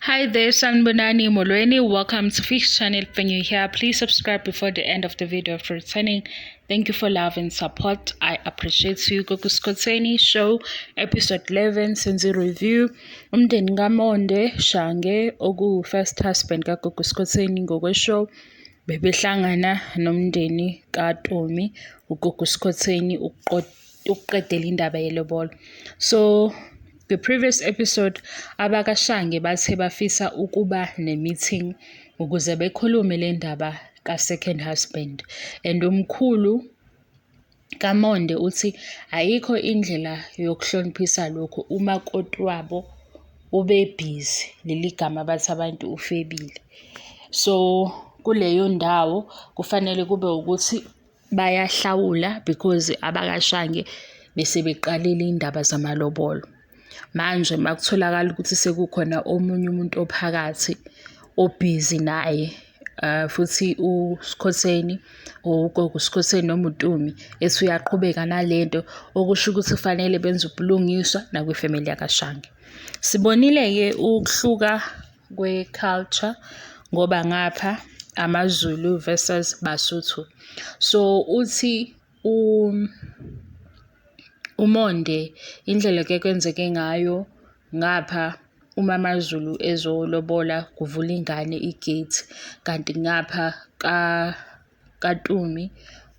Hi there, Sanbonani Molweni. Welcome to Fix Channel. When you're here, please subscribe before the end of the video for returning. Thank you for love and support. I appreciate you. Gogo Skoteni Show, episode 11, Senzi Review. Umndeni kaMonde Shange, oku first husband ka kaGogo Skoteni ngokwe show. Bebehlangana nomndeni kaTomi, uGogo Skoteni uqedela indaba yelobolo. So The previous episode, abakashange bathe bafisa ukuba ne-meeting ukuze bekhulume le ndaba ka-second husband and umkhulu kamonde uthi ayikho indlela yokuhloniphisa lokhu uma koti wabo ubebhizi leli gama bathi abantu ufebile so kuleyo ndawo kufanele kube ukuthi bayahlawula because abakashange besebeqalile indaba zamalobolo. Manje makutholakala ukuthi sekukhona omunye umuntu ophakathi obhizi naye uh, futhi uSkhotheni or ugogo uSkhotheni noma uTumi ethi uyaqhubeka nalento okusho ukuthi kufanele benze ubulungiswa nakwifamily yakaShange. Sibonile-ke ukuhluka kwe-culture ngoba ngapha amaZulu versus Basotho. So, uthi umonde indlela ekuye kwenzeke ngayo ngapha uma amaZulu ezolobola kuvula ingane igate kanti ngapha ka. kaTumi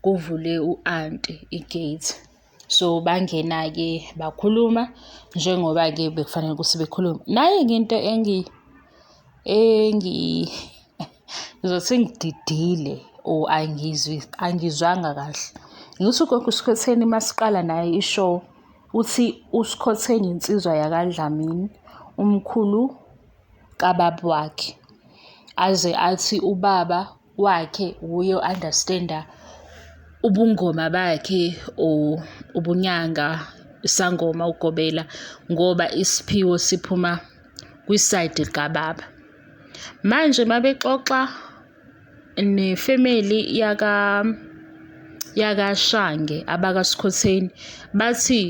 kuvule u-anti igate. So bangena-ke bakhuluma njengoba-ke bekufanele ukuthi bekhulume. Nayi-ke into engi engi ngizothi ngididile or angizwi angizwanga kahle. Ngithi ugogo uSkhotheni uma siqala naye i-show uthi uSkhotheni insizwa yakaDlamini umkhulu kababa wakhe. Aze athi ubaba wakhe wuye o-understand-a ubungoma bakhe or ubunyanga isangoma ugobela ngoba isiphiwo siphuma kwisayidi likababa manje uma bexoxa nefemeli yaka yakashange abakasikhotheni bathi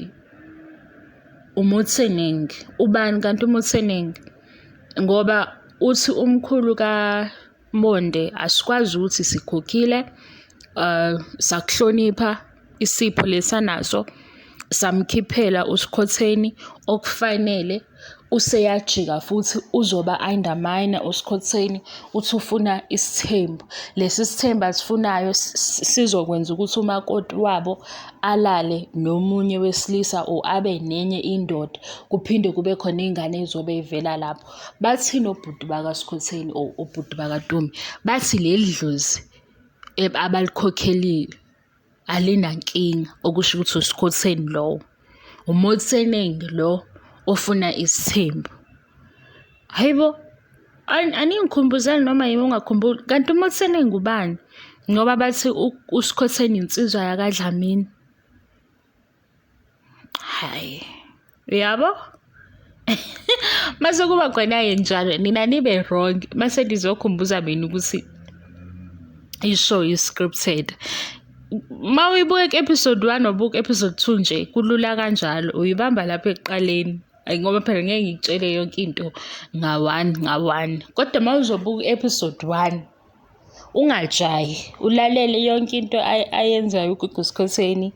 umutseningi ubani kanti umutseningi ngoba uthi umkhulu ka Monde, asikwazi ukuthi sikhokhile uh, sakuhlonipha isipho lesanaso samkhiphela usikhotheni okufanele useyajika futhi uzoba undermine usikhotheni uthi ufuna isithembu lesi sithembu asifunayo sizokwenza ukuthi umakoti wabo alale nomunye wesilisa or abe nenye indoda kuphinde kube khona ingane ezobe ivela lapho Bathini obhuti bakaskhotheni or obhuti bakatumi bathi leli dlozi abalikhokhelile alinankinga okusho ukuthi uskhotheni lowo umotseningi lo ofuna isithembu hayi bo aningikhumbuzani noma yimi ungakhumbuli kanti umotseningi ngubani ngoba bathi uskhotheni insizwa yakadlamini hhayi uyabo mase kuba khona-ke njalo nina nibe wrong mase ndizokhumbuza mina ukuthi ishow i-scripted ma uyibuka ku-episode one wabuka episode two nje kulula kanjalo uyibamba lapho ekuqaleni ngoba phela ngeke ngikutshele yonke into nga-one nga-one kodwa ma uzobuka u-episode one Ungajahi, ulalele yonke into ayenzayo uGugu Skhotheni,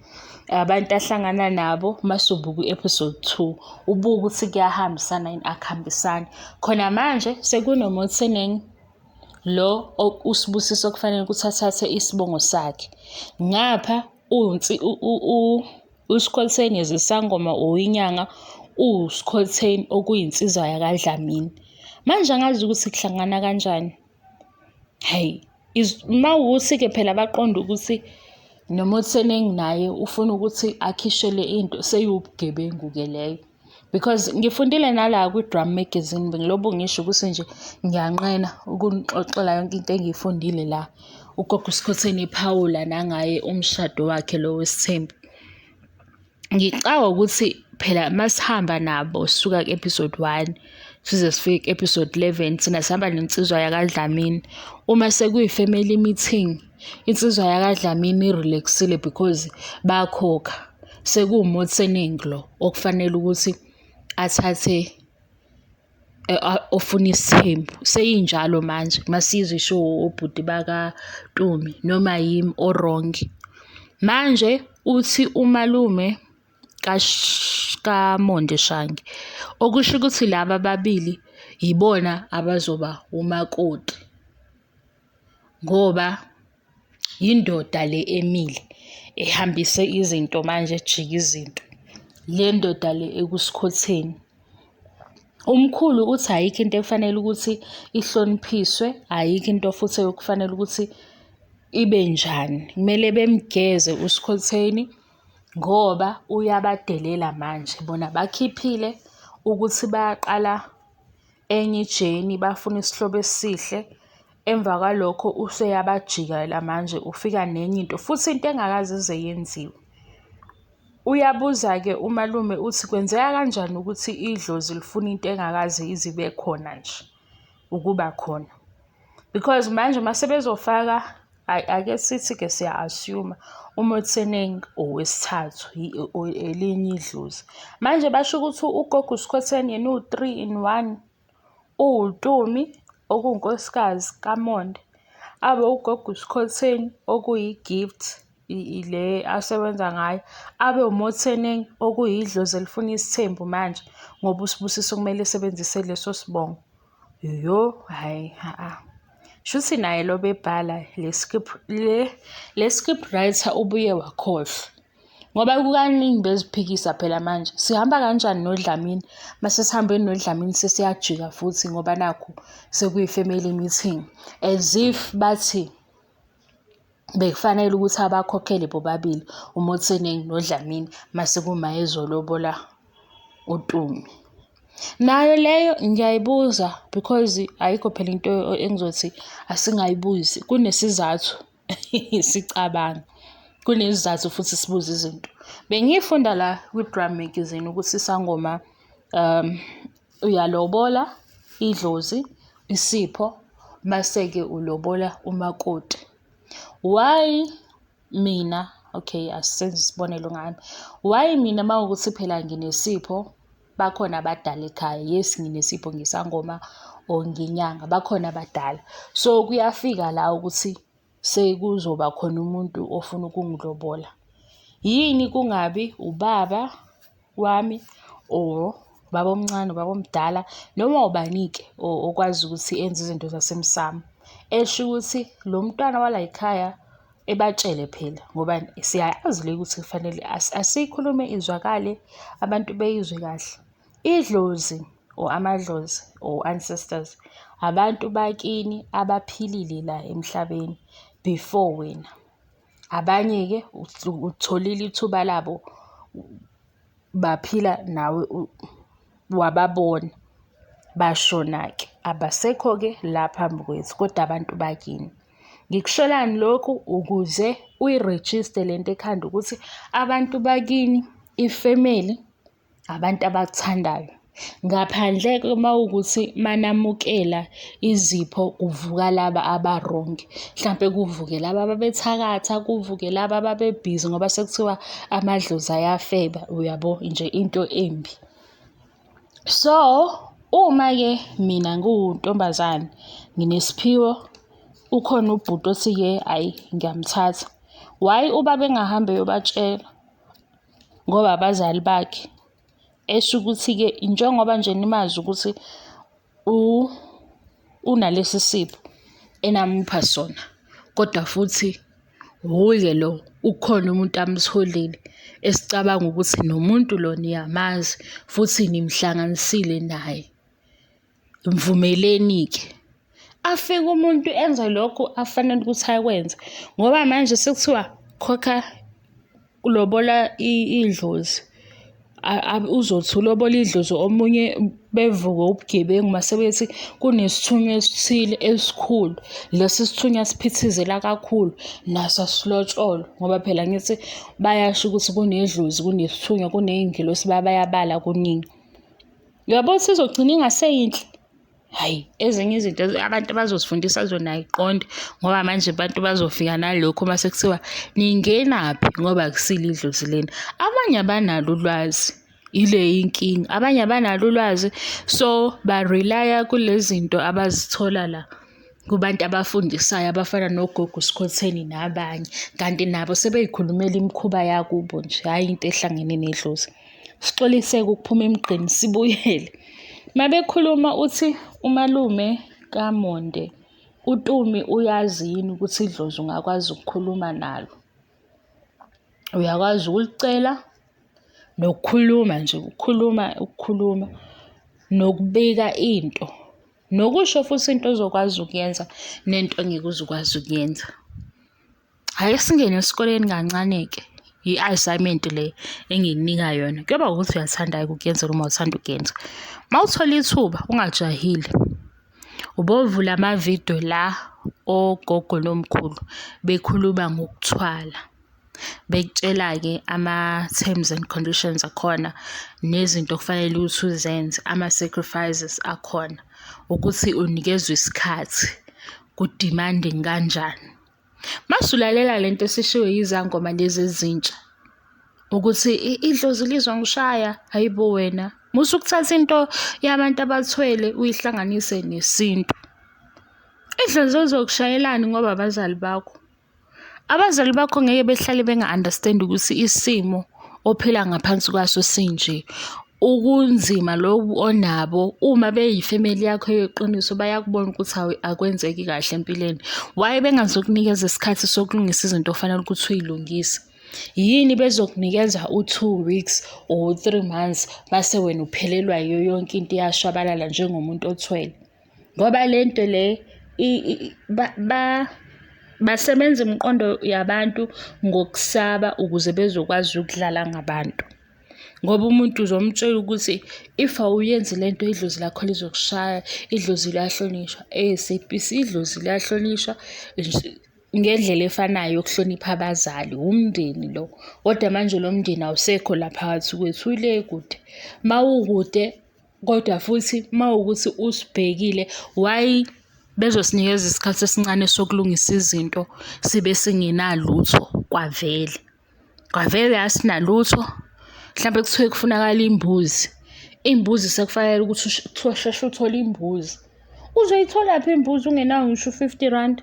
abantu ahlangana nabo mase ubuka u-episode two, ubuke ukuthi kuyahambisana yini akuhambisani. Khona manje sekunomothinengi lo uSibusiso okufanele ukuthi athathe isibongo sakhe. Ngapha uSkhotheni is isangoma or inyanga, uSkhotheni okuyinsizwa yakaDlamini. Manje angazi ukuthi kuhlangana kanjani. Hhayi uma kuwukuthi-ke phela baqonde ukuthi noma utheni enginaye ufuna ukuthi akhishelwe into seyiwubugebengu-ke leyo. Because ngifundile nala kwi-Drum Magazine ngilobo ngisho ukuthi nje ngiyanqena ukunixoxela yonke into engiyifundile la. Ugogo uSkhotheni ephawula nangaye umshado wakhe lo wesithembu. Ngicabanga ukuthi phela masihamba nabo sisuka ku-episode one size sifike ku-episode eleven thina sihamba nensizwa yakaDlamini. Uma sekuyi-family meeting, insizwa yakaDlamini i-relax-ile because bayakhokha. Sekuwumothening lo okufanele ukuthi athathe. ofuna isithembu seyinjalo manje masizwa isho obhuti bakaNtombi noma yimi o-wrong. Manje uthi umalume kaMondi Shange, okusho ukuthi laba ababili yibona abazoba umakoti ngoba Yindoda le emile ehambise izinto manje ejika izinto. Le ndoda le ekusikhotheni. Umkhulu uthi ayikho into ekufanele ukuthi ihloniphiswe, ayikho into futhi ekufanele ukuthi ibe njani. Kumele bemgeze usikhotheni ngoba uyabadelela manje. Bona bakhiphile ukuthi bayaqala enye ijeni, bafuna isihlobo esihle. Emva kwalokho useyabajikela manje ufika nenye into futhi into engakaze ize yenziwe. Uyabuza-ke umalume uthi kwenzeka kanjani ukuthi idlozi lifuna into engakaze ize ibe khona nje ukuba khona. Because manje uma sebezofaka ake sithi-ke siya-assume umuthi eningi owesithathu elinye idlozi. Manje basho ukuthi ugogo uskhotheni yena uwu-three in one. uWutumi, okuwunkosikazi kaMonde, abe ugogo uSikhotheni, okuyiGift le asebenza ngayo, abe uMotseneng, okuyidlozi elifuna isithembu manje ngoba uSibusiso kumele esebenzise leso sibongo. Yho, hhayi ha-a. Shuthi naye lo obebhala le script le le script writer ubuye wakhohlwa. ngoba kukaningi beziphikisa phela manje sihamba kanjani nodlamini mase sihambe nodlamini sesiyajika futhi ngoba nakho sekuyi-family meeting as if bathi bekufanele ukuthi abakhokhele bobabili umotseningi nodlamini mase kuma ezolobola utumi nayo leyo ngiyayibuza because ayikho phela into engizothi asingayibuzi kunesizathu sicabanga kunesizathu futhi sibuza izinto bengiyifunda la kwi-drum magazine ukuthi isangoma um uyalobola idlozi isipho mase-ke ulobola umakoti why mina okay asisenze isibonelo ngami why mina uma kuwukuthi phela nginesipho bakhona abadala ekhaya yes nginesipho ngisangoma or nginyanga bakhona abadala so kuyafika la ukuthi sekuzoba khona umuntu ofuna ukungilobola yini kungabi ubaba wami or baba omncane ubaba omdala noma ubanike okwazi ukuthi enze izinto zasemsamo esho ukuthi lo mntwana wala yikhaya Ebatshele phela ngoba siyayazi le ukuthi kufanele asiyikhulume izwakale abantu beyizwe kahle. Idlozi or amadlozi or ancestors abantu bakini abaphilile la emhlabeni before wena. Abanye-ke ulitholile ithuba labo baphila nawe wababona bashona-ke abasekho-ke la phambi kwethu kodwa abantu bakini. Ngikusholani lokhu ukuze uyirejiste le nto ekhanda ukuthi abantu bakini ifemeli abantu abakuthandayo. Ngaphandle-ke uma kuwukuthi manamukela izipho kuvuka laba abarongi. Mhlampe kuvuke laba ababethakatha, kuvuke laba ababebhizi ngoba sekuthiwa amadlozi ayafeba, uyabo? Nje into embi. So uma-ke mina ngiwuntombazane nginesiphiwo ukhona ubhuti othi-ke ayi ngiyamthatha. Why ubaba engahambi eyobatshela ngoba abazali bakhe? Esho ukuthi-ke njengoba nje nimazi ukuthi. unalesi sipho enamupha sona kodwa futhi wuye lo ukhona umuntu amtholile esicabanga ukuthi nomuntu lo niyamazi futhi nimhlanganisile naye. Mvumeleni-ke. Afike umuntu enze lokhu afanele ukuthi akwenze ngoba manje sekuthiwa khokha Ulobola idlozi uzothi ulobola idlozi omunye bevuke ubugebengu mase bethi kunesithunywa esithile esikhulu lesi sithunywa siphithizela kakhulu naso asilotsholwa ngoba phela ngithi bayasho ukuthi kunedlozi kunesithunywa kuney'ngelosi bayabala kuningi. Uyabo ukuthi izogcina ingaseyinhle. Hhayi, ezinye izinto abantu abazosifundisa zona ayiqonde ngoba manje abantu bazofika nalokho uma sekuthiwa ningenaphi ngoba akusile idlozi lena. Abanye abanalo ulwazi, ile inkinga. Abanye abanalo ulwazi, so ba-rely-a kule zinto abazithola la. kubantu abafundisayo abafana nogogo sikhotheni nabanye kanti nabo sebeyikhulumela imikhuba yakubo nje hhayi into ehlangene nedlozi sixoliseke ukuphuma emgqeni sibuyele mabekhuluma uthi umalume kamonde utumi uyazi yini ukuthi idlozi ungakwazi ukukhuluma nalo uyakwazi ukulicela nokukhuluma nje ukukhuluma ukukhuluma nokubika into Nokusho futhi into ozokwazi ukuyenza nento ongeke uzukwazi ukuyenza. Hhayi singene esikoleni kancane-ke. I-assignment le engikunika yona kuyoba ukuthi uyathanda ukuyenza noma uthanda ukuyenza. Uma uthola ithuba ungajahile ubovula amavidiyo la ogogo nomkhulu bekhuluma ngokuthwala. bekutshela-ke ama-terms and conditions akhona nezinto okufanele ukuthi uzenze ama-sacrifices akhona ukuthi unikezwe isikhathi ku-demanding kanjani. Masulalela le nto esishiwo yizangoma lezi ezintsha ukuthi idlozi lizongishaya hhayi bo wena musa ukuthatha into yabantu abathwele uyihlanganise nesintu. Idlozi lizokushayelani ngoba abazali bakho? Abazali bakho ngeke behlale benga-understand ukuthi isimo ophila ngaphansi kwaso sinje. Ukunzima lobu onabo uma beyifemeli yakho yeqiniso bayakubona ukuthi akwenzeki kahle empilweni. Why bengazokunikeza isikhathi sokulungisa izinto ofanele ukuthi uyilungise? Yini bezokunikeza u-two weeks or three months base wena uphelelwa yiyo yonke into iyashabalala njengomuntu othwele? ngoba le nto le basebenza imiqondo yabantu ngokusaba ukuze bezokwazi ukudlala ngabantu ngoba umuntu uzomtshela ukuthi if awuyenzi le nto idlozi lakho lizokushaya, idlozi liyahlonishwa. Esebenzisa idlozi liyahlonishwa ngendlela efanayo yokuhlonipha abazali, wumndeni lo. Kodwa manje lo mndeni awusekho la phakathi kwethu, ule kude, uma ukude. Kodwa futhi uma wukuthi usibhekile why bezosinikeza isikhathi esincane sokulungisa izinto sibe singenalutho kwavele. Kwavele asinalutho, mhlampe kuthiwe kufunakala imbuzi, iy'mbuzi sekufanele ukuthi kuthiwa sheshe uthole imbuzi. Uzoyitholaphi imbuzi ungenawo ngisho u-fifty rand?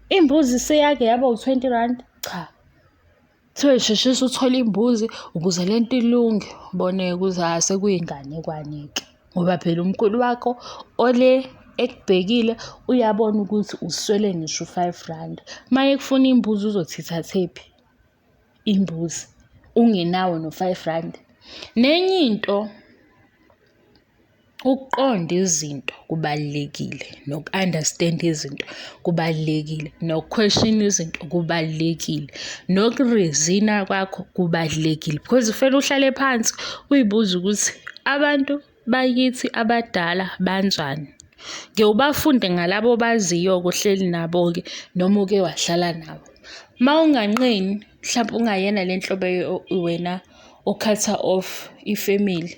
Imbuzi seyake yaba u-twenty rand? Cha. Kuthiwe sheshisa uthole imbuzi ukuze le nto ilunge. Bona-ke ukuthi hhayi sekuyinganekwane-ke ngoba phela umkhulu wakho ole ekubhekile uyabona ukuthi uswele ngisho u-five rand. Uma ekufuna imbuzi uzothi ithathephi imbuzi ungenawo no-five rand. Nenye into. Ukuqonda izinto kubalulekile noku-understand-a izinto kubalulekile, noku-question-a izinto kubalulekile, noku-reason-a kwakho kubalulekile because kufanele uhlale phansi uy'buze ukuthi abantu bakithi abadala banjani. Ngeke ubafunde ngalaba obaziyo-ke ohleli nabo-ke noma uke wahlala nabo. Uma unganqeni mhlampe ungayena le nhlobo wena o-cutter off ifemeli.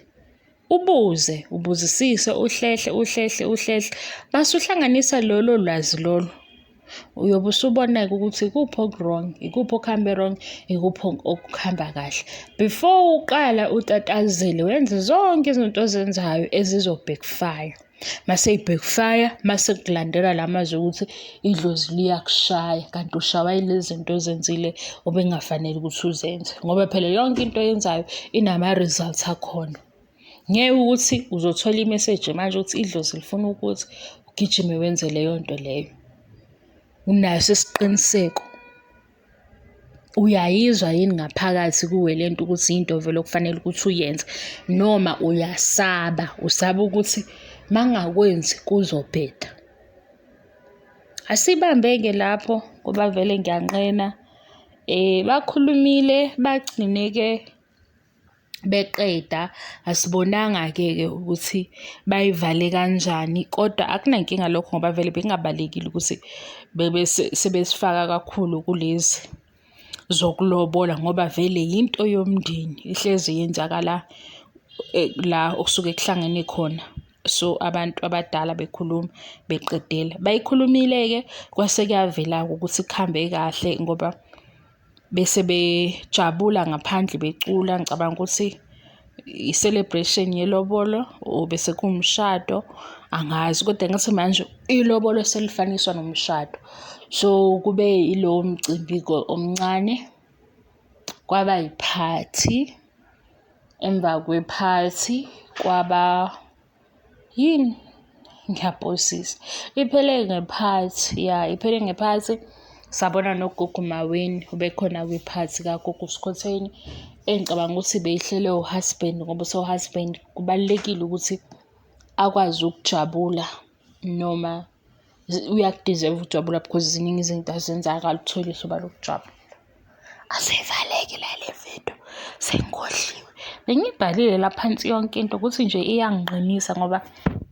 Ubuze, ubuzisise, uhlehle, uhlehle, uhlehle. Mase uhlanganisa lolo lwazi lolo. Uyobe usubona-ke ukuthi ikuphi oku-wrong, ikuphi okuhambe wrong, ikuphi okuhamba kahle. Before uqala utatazele wenze zonke izinto ozenzayo ezizo-backfire. Mase i-backfire, mase kulandela la mazwi okuthi idlozi liyakushaya kanti ushawa yilezi zinto ozenzile obengafanele ukuthi uzenze ngoba phela yonke into oyenzayo inama-results akhona. Ngeke ukuthi uzothola imeseji manje ukuthi idlozi lifuna ukuthi ugijime wenze leyo nto leyo. Unaso isiqiniseko. Uyayizwa yini ngaphakathi kuwe le nto ukuthi yinto vele okufanele ukuthi uyenze noma uyasaba, usaba ukuthi mangakwenzi kuzobheda. Asibambe-ke lapho ngoba vele ngiyanqena bakhulumile bagcine-ke. beqeda asibonanga-ke ke ukuthi bayivale kanjani kodwa akunankinga lokho ngoba vele bekungabalekile ukuthi bebe sebesifaka kakhulu kulezi zokulobola ngoba vele yinto yomndeni ihlezi yenzakala eh, la okusuke kuhlangene khona so abantu abadala bekhuluma beqedela bayikhulumile-ke kwase kuyavela-ke ukuthi kuhambe kahle ngoba bese bejabula ngaphandle becula ngicabanga ukuthi i-celebration yelobolo or bese kuwumshado angazi kodwa ngathi manje ilobolo selifaniswa nomshado so kube ilowo mcimbi omncane kwaba yiphathi emva kwephathi kwaba yini ngiyaphosisa iphele nge-part ya iphele nge-part sabona nogogo maweni ubekhona kwi-part kagogo skhotheni engicabanga ukuthi beyihlele uhusband ngoba usohusband kubalulekile ukuthi akwazi ukujabula noma uyakudeserve ukujabula because ziningi izinto azenza akalutholi ihloba lokujabula asevaleki lale video sengigodliwe bengiyibhalile la phansi yonke into ukuthi nje iyanginqinisa ngoba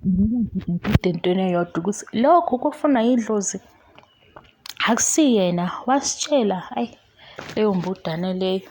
ngikude entweni eyodwa ukuthi lokho kufuna idlozi akusiyena wasitshela ayi leyo mbudane leyo